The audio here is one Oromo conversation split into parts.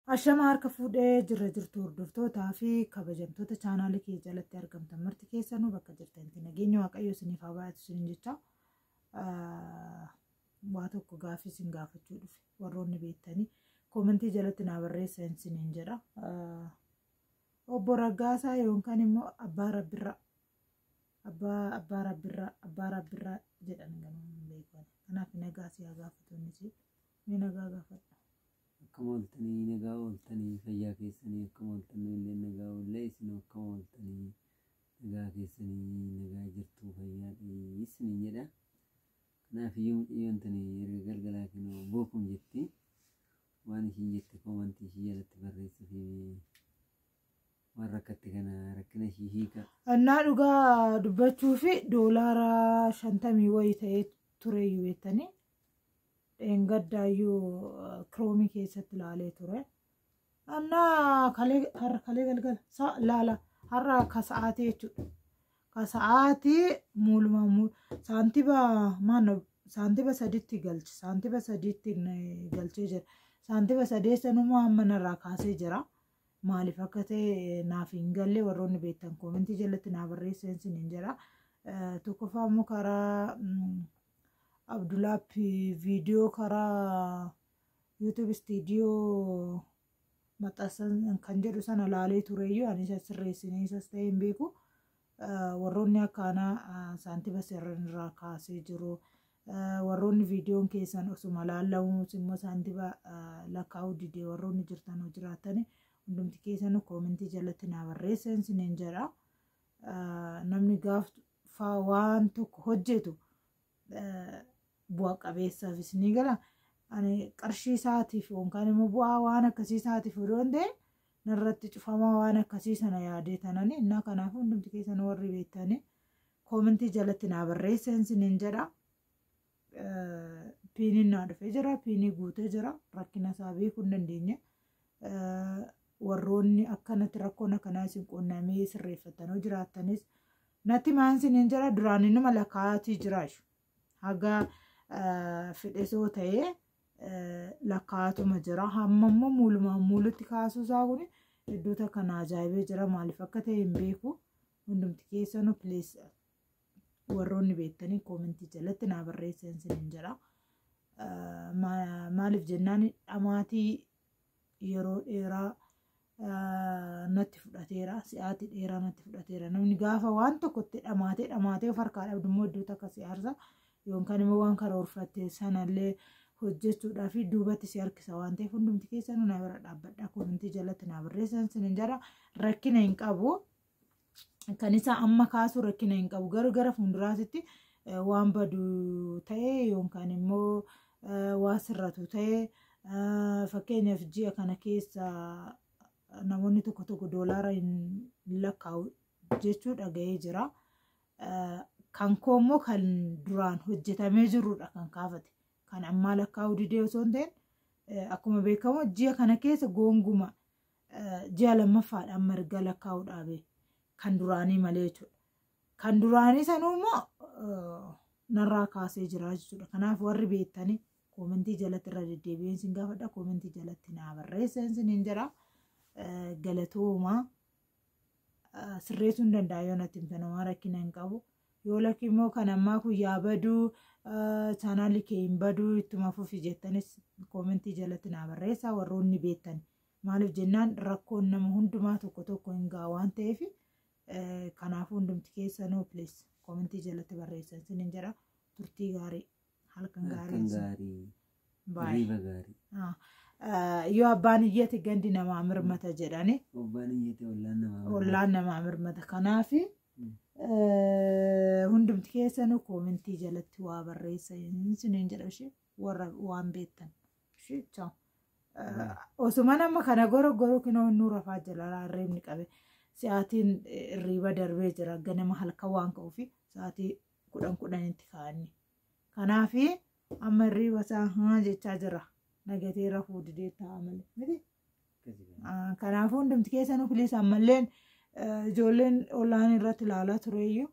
Ashama harka fuudhee jirra jirtu hordoftootaa fi kabajamtoota chaanaalii kee jalatti argamtan marti keessanuu bakka jirtanitti nageenya waaqayyo isiniif haa baay'atu isiniin jecha waa tokko gaaffii isin gaafachuu dhufe warroonni beektanii koomentii jalatti naa barreessa isiniin jedha. Obbo Raggaasaa yookaan immoo Abbaa Rabbirraa Abbaa Abbaa Rabbirraa Abbaa Rabbirraa jedhan ganuu hin beekan kanaaf nagaa si haa gaafatu inni si ni nagaa gaafadha. Akkam ooltanii nagaa ooltanii fayyaa keessanii akkam ooltan nu illee nagaa oollee isin akkam ooltanii nagaa keessanii nagaa jirtuu fayyaa ta'ii isiniin jedha kanaaf iyyuu mucayyoon tuni erga galgalaa kenoo bookum jetti waan ishiin jette koomantii ishii jalatti barreessa fi waan rakkatte kana rakkina ishii hiika Annaa dhugaa dubbachuu fi doolaara shantamii wayii ta'ee tureyyuu beektanii dheengaddaayyuu kiroomii keessatti ilaalee ture. Annaa kalee har'a kalee galgala sa laala har'a ka sa'aatii jechuudha. Ka sa'aatii muuluma muu saantiba maanno saantiba sadiitti galche saantiba sadiitti n- galchee jira. Saantiba sadee sanuma amma narraa kaasee jira. Maaliif akka ta'e naaf hin galle warroonni beektan koomentii jalatti naa barreessan sin hin jira. Eh, Tokkoffaa immoo karaa mm, Abdulapp viidiyoo karaa YouTube studio maxxansan kan jedhu sana laalee tureyyuu ani isa sirreessinee isas ta'ee hin beeku. Ah, Warroonni akka anaa ah, saantiba sirran irraa kaasee jiru. Ah, Warroonni viidiyoon keessan osuma laallamuus immoo saantiba ah, lakkaa'uu didee warroonni jirtan hoo jiraatani hundumti keessanuu koomentii jalatti naa barreessan isiniin jedha. Ah, Namni gaaftu faa waan tokko hojjetu eh, bu'a qabeessaafis ni gala. Ani qarshii isaatiif yookaan immoo bu'aa waan akkasii isaatiif odoo hin ta'in narratti cufamaa waan akkasii sana yaadee tanani innaa kanaaf hundumti keessan warri beektanii koomentii jalatti naa barreessan sinin jedha. Piiniin naa dhufee jira. Piinii guutee jira. Rakkina isaa beekuu hin dandeenye. Warroonni akkanatti rakkoon akkanaa isin quunnamee sirreeffattanoo jiraattanis natti maan siniin jira duraan inuma lakkaa'atii jira ishu. Haga fedhesoo ta'ee lakkaa'atuma jira. Hamma immoo muulumaan muulutti kaasuu isaa kun iddoo takka naa ajaa'ibee jira. Maaliif akka ta'e hin beeku. Hundumti keessanuu please warroonni beektanii koomentii jalatti naa barreessan sinin jedha. Maaliif jennaan dhamaatii yeroo dheeraa natti fudhateera si'aatii dheeraa natti fudhateera namni gaafa waan tokko itti dhamaatee dhamaatee of harkaa dhabdu immoo iddoo takka si aarsa yookaan immoo waan karoorfatte sanallee hojjechuudhaa fi duubatti si harkisa waan ta'eef hundumti keessanuu na bira dhaabbadha koomentii jalatti naa barreessan sinin jedha rakkina hin qabu kan isaa amma kaasuu rakkina hin qabu garuu gara fuulduraatitti waan badu ta'e yookaan immoo waan sirratu ta'e fakkeenyaaf ji'a kana keessa namoonni tokko tokko doolaara hin lakkaa'u jechuu dhaga'ee jira. Kan koo immoo kan duraan hojjetamee jirudha kan kaafate. Kan ammaa lakkaa'uu didee osoo hin ta'in akkuma beekamu ji'a kana keessa goonguma ji'a lammaffaadha amma erga lakkaa'uu dhaabe kan duraanii malee jechuudha. Kan duraanii sanuu immoo narraa kaasee jira jechuudha. Kanaaf warri beektanii koomentii jalatti irra deddeebi'een sin gaafadha. Koomentii jalatti naa barreesseen sin hin jira. Galatooma sirreessuu hin danda'a yoo natti hin fanamaa rakkina hin qabu. Yoo lakki immoo kan ammaa kun yaa baduu chaanaalli kee hin baduu ittuma fufi jettanis koomentii jalatti naa barreessaa warroonni beektanii. Maaliif jennaan rakkoon nama hundumaa tokko tokko hin ga'a waan ta'eef kanaafuu hundumti keessanuu please komentii jalatti barreessan sinin jedha turtii gaarii halkan Halkan gaarii isin- gaarii. Bye. Riiba gaarii. Ah, ah, yoo abbaan iyyate gandi namaa mirmata jedhani Obbaan iyyate ollaan namaa. ollaan namaa mirmata kanaaf eh, hundumti keessanuu komentii jalatti waa barreessan sinin jedha ishee warra waan beektan. Ishii choo. Osuma nama kana goro goro kinoo innuu rafaa jira hirriibni qabe. Sa'aatiin hirriiba darbee jira ganama halkan waan ka'uufi sa'aatii kudhan kudhanitti kaa'anni. Kanaafi amma hirriiba isaa haa jechaa jira. Nagatee rafuu didee taa'aa malee. Miti? Ah, Kanaafuu hundumti keessanuu filiis ammalleen eh, ijoolleen ollaan irratti ilaalaa tureeyyuu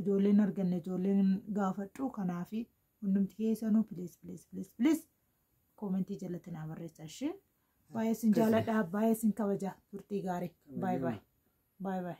ijoolleen arganne ijoolleen gaafadhu kanaafi hundumti keessanuu please please please please koomentii jalatti naa barreessaa ishee baay'ee sin jaaladha baay'ee sin kabaja turtii gaarii baay baay baay baay